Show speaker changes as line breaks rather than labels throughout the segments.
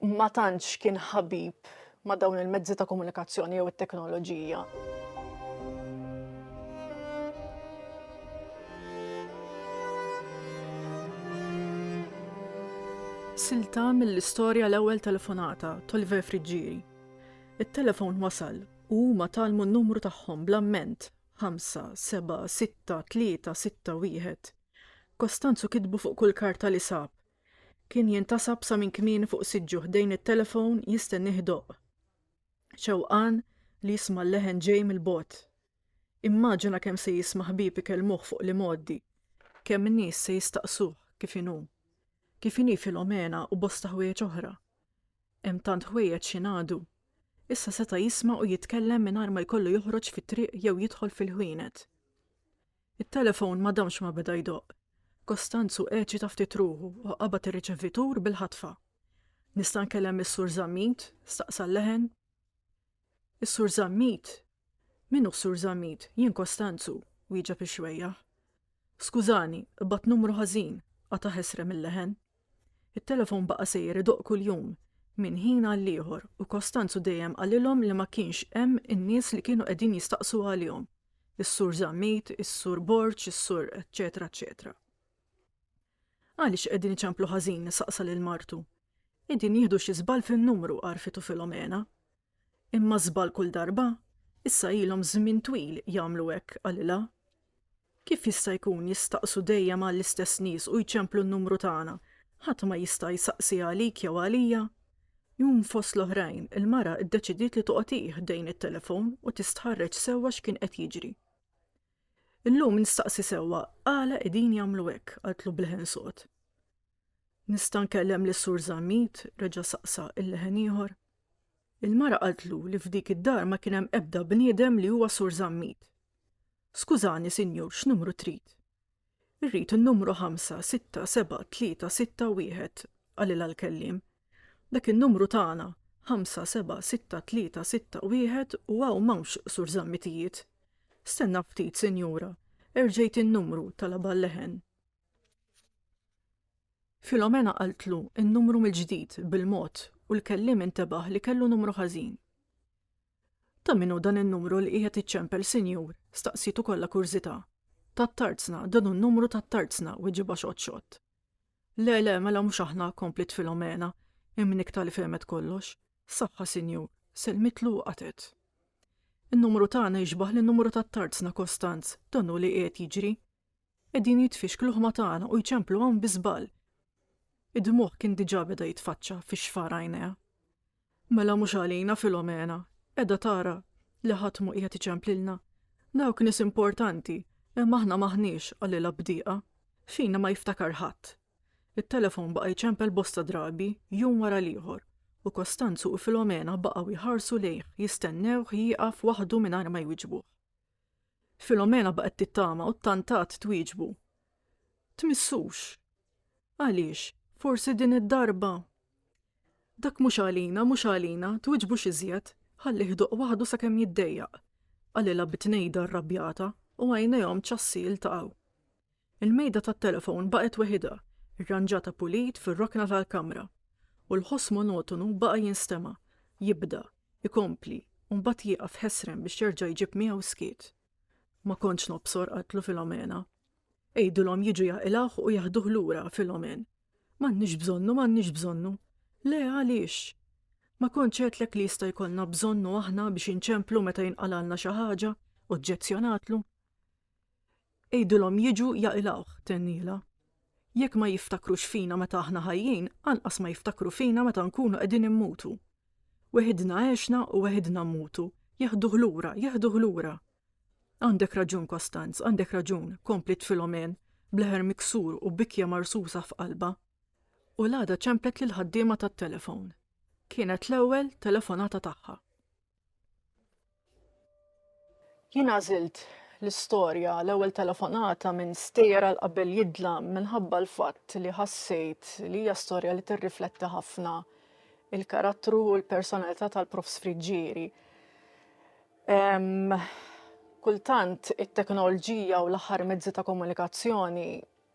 ma tantx kien ħabib ma' dawn il-mezzi ta' komunikazzjoni jew it-teknoloġija. Silta mill-istorja l-ewwel telefonata t'Oliver Friggieri. It-telefon wasal u huma tgħallmu n-numru tagħhom bl-amment, ħamsa, sebgħa, sitta, tlieta, sitta, wieħed. Costanzo kitbu fuq kull karta li sab, Kien jintasab sa minn kmieni fuq siġġu ħdejn it-telefon jistennih idoqq. Xewqan li jisma' l-leħen ġej mill-bogħod. Immaġina kemm se jisma' ħbieb ikellmuh fuq l-imgħoddi. Kemm nies se jistaqsuh kif inhu. Kif inhi Filomena u bosta ħwejjeġ oħra. Hemm tant ħwejjeġ x'ingħadu. Issa seta' jisma' u jitkellem mingħajr ma jkollu joħroġ fit-triq jew jidħol fil-ħwienet. It-telefon ma damx ma beda jdoqq. Kostanzu eċita ftit ruħu u qabad ir-riċevitur bil-ħatfa. Nista' nkellem lis-Sur Zammit? staqsa l-leħen. Is-Sur Zammit? Min hu s-Sur Zammit? Jien Kostanzu, wieġeb ix-xwejjaħ. Skużani, qbadt numru ħażin, qatagħ esrem il-leħen. It-telefon baqa' sejjer idoqq kuljum, minn ħin għall-ieħor, u Kostanzu dejjem qalilhom li ma kienx hemm in-nies li kienu qegħdin jistaqsu għalihom, is-Sur Zammit, is-Sur Borg, is-Sur eċċetera eċċetera. Għaliex qegħdin iċemplu ħażin? saqsa lil martu. Qegħdin jieħdu xi żball fin-numru, għarrfitu Filomena. Imma żball kull darba? Issa ilhom żmien twil jagħmlu hekk, qalilha. Kif jista' jkun jistaqsu dejjem għall-istess nies u jċemplu n-numru tagħna? Ħadd ma jista' jsaqsi għalik jew għalija? Jum fost l-oħrajn, il-mara ddeċidiet li toqgħod hi ħdejn it-telefon u tistħarreġ sewwa x'kien qed jiġri. Illum nistaqsi sewwa għala qegħdin jagħmlu hekk, qaltlu b'leħen sod. Nista' nkellem lis-Sur Zammit, reġa' saqsa il-leħen ieħor. Il-mara qaltlu li f'dik id-dar ma kien hemm ebda bniedem li huwa Sur Zammit. Skużani, sinjur, x'numru trid? Irrid in-numru ħamsa, sitta, seba', tlieta, sitta, wieħed, qalilha l-kelliem. Dak in-numru tagħna, ħamsa, seba', sitta, tlieta, sitta, wieħed u hawn m'hawnx Sur Zammitijiet. Stenna ftit, sinjura, erġejt in-numru talabha l-leħen. Filomena qaltlu n-numru mill-ġdid bil-mod u l-kelliem intebaħ li kellu numru ħażin. Ta' minnu dan in-numru li qiegħed iċċempel sinjur, staqsitu kollha kurżità. Tat-tarzna, dan hu numru tat-tarzna, weġibha xott-xott. Le, le, mela mhux aħna, kompliet Filomena, imnikta li fehmet kollox. Saħħa, sinjur, sellmitlu u qatet. In-numru tagħna jixbaħ lin-numru tat-tarzna, Kostanz, dan hu li qiegħed jiġri. Qegħdin jitfixklu ħma tagħna u jċemplu hawn bi żball. Id-dmugħ kien diġà beda jitfaċċa fi xfar għajnejha. Mela mhux għalina Filomena, qiegħda tara li ħadd mhu qiegħed iċemplilna. Dawk nies importanti, imma aħna m'aħniex, qalilha b'diqa. Fina ma jiftakar ħadd. It-telefon baqa' jċempel bosta drabi, jum wara l-ieħor, u Kostanzu u Filomena baqgħu jħarsu lejh, jistennewh jieqaf waħdu mingħajr ma jwiġbuh. Filomena baqgħet tittama u ttantat twieġbu. Tmissux. Għaliex, forsi din id-darba? Dak mhux għalina, mhux għalina, twiġbux iżjed, ħallih idoqq waħdu sakemm jiddejjaq, qalilha bi tnejda rrabjata u għajnejhom ċassi jiltaqgħu. Il-mejda tat-telefon baqgħet weħidha, irranġata pulit fir-rokna tal-kamra, u l-ħoss monotonu baqa' jinstema', jibda, ikompli, u mbagħad jieqaf ħesrem biex jerġa' jġib miegħu skiet. Ma kontx nobsor, qaltlu Filomena. Għidilhom jiġu jaqilgħuh u jaħduh lura, Filomen. M'għandniex bżonnu, m'għandniex bżonnu. Le, għaliex? Ma kontx għedtlek li jista' jkollna bżonnu aħna biex inċemplu meta jinqalgħalna xi ħaġa, oġġezzjonatlu. Għidilhom jiġu jaqilgħuh, tennielha. Jekk ma jiftakrux fina meta aħna ħajjin, anqas ma jiftakru fina meta nkunu qegħdin immutu. Weħidna għexna u weħidna mmutu, jeħduh lura, jeħduh lura! Għandek raġun, Kostanz, għandek raġun, kompliet Filomène, b'leħer miksur u bikja marsusa f'qalbha. U l-għada ċemplet lill-ħaddiema tat-telefown. Kienet l-ewwel telefonata tagħha. Jien għażilt l-istorja l-ewwel telefonata minn stejjer għal qabel jidlam minħabba l-fatt li ħassejt li hija storja li tirrifletti ħafna il-karattru u l-personalità tal-Prof Sfriġġieri. Kultant it-teknoloġija u l-aħħar mezzi ta' komunikazzjoni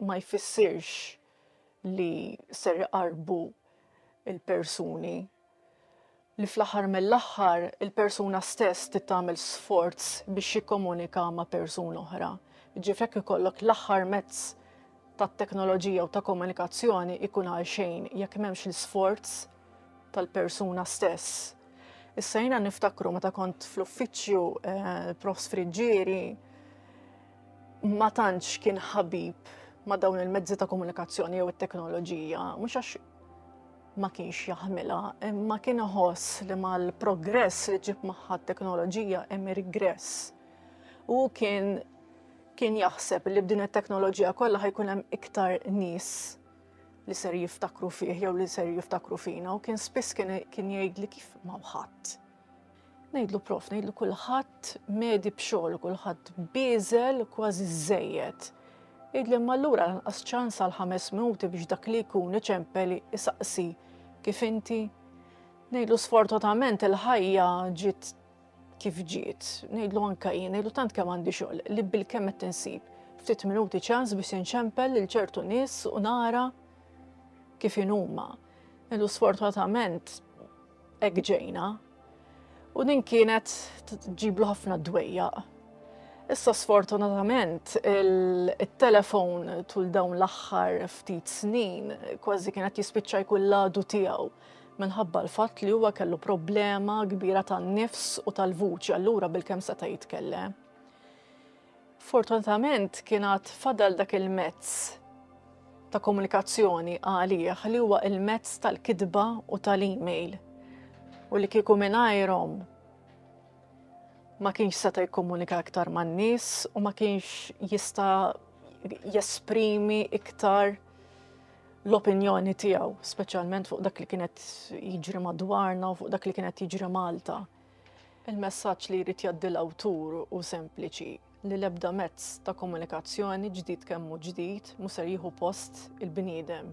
ma jfissirx li ser iqarrbu l-persuni, li fl-aħħar mill-aħħar il-persuna stess trid tagħmel sforz biex jikkomunika ma' persuna oħra. Ġifieri jekk ikollok l-aħħar mezz tat-teknoloġija u ta' komunikazzjoni jkun għal xejn jekk m'hemmx l-isforz tal-persuna stess. Issa jiena niftakru meta kont fl-uffiċċju eh, Profs Friġġieri ma tantx kien ħabib ma' dawn il-mezzi ta' komunikazzjoni jew it-teknoloġija, mhux għax ma kienx jaħmilha, imma kien iħoss li mal-progress li ġib magħha t-teknoloġija hemm rigress. U kien kien jaħseb li b'din it-teknoloġija kollha ħajkun hemm iktar nies li ser jiftakru fih jew li ser jiftakru fina u kien spiss kien jgħid li kif ma ħadd Ngħidlu prof, ngħidlu kulħadd medi b'xogħol, kulħadd biżel kważi żejjed. Idli ma lura lanqas ċans għal ħames minuti biex dak li jkun iċempeli isaqsi kif inti. Ngħidlu sfortunatament il-ħajja ġiet kif ġiet, ngħidlu anka jien, ngħidlu tant kemm għandi xogħol li bil-kemm qed insib ftit minuti ċans biex inċempel lil ċertu nies u nara kif inhuma. Ngħidlu sfortunatament Hekk ġejna. U din kienet ġiblu ħafna dwejjaq. Issa sfortunatament il-telefon tul dawn l-aħħar ftit snin kważi kienet jispiċċa jkun l-għadu tiegħu minħabba l-fatt li huwa kellu problema kbira tan-nifs u tal-vuċi allura bil-kemm seta' jitkellem. Fortunatament kien għad fadal dak il-mezz ta' komunikazzjoni għalih li huwa il-mezz tal-kitba u tal-email u li kieku mingħajrhom ma kienx seta' jikkomunika iktar man-nies u ma kienx jista' jesprimi iktar l-opinjoni tiegħu, speċjalment fuq dak li kienet jiġri madwarna u fuq dak li kienet jiġri Malta. Il-messaġġ li jrid jgħaddi l-awtur hu sempliċi li l-ebda mezz ta' komunikazzjoni ġdid kemm hu ġdid mhu ser jieħu post il-bniedem.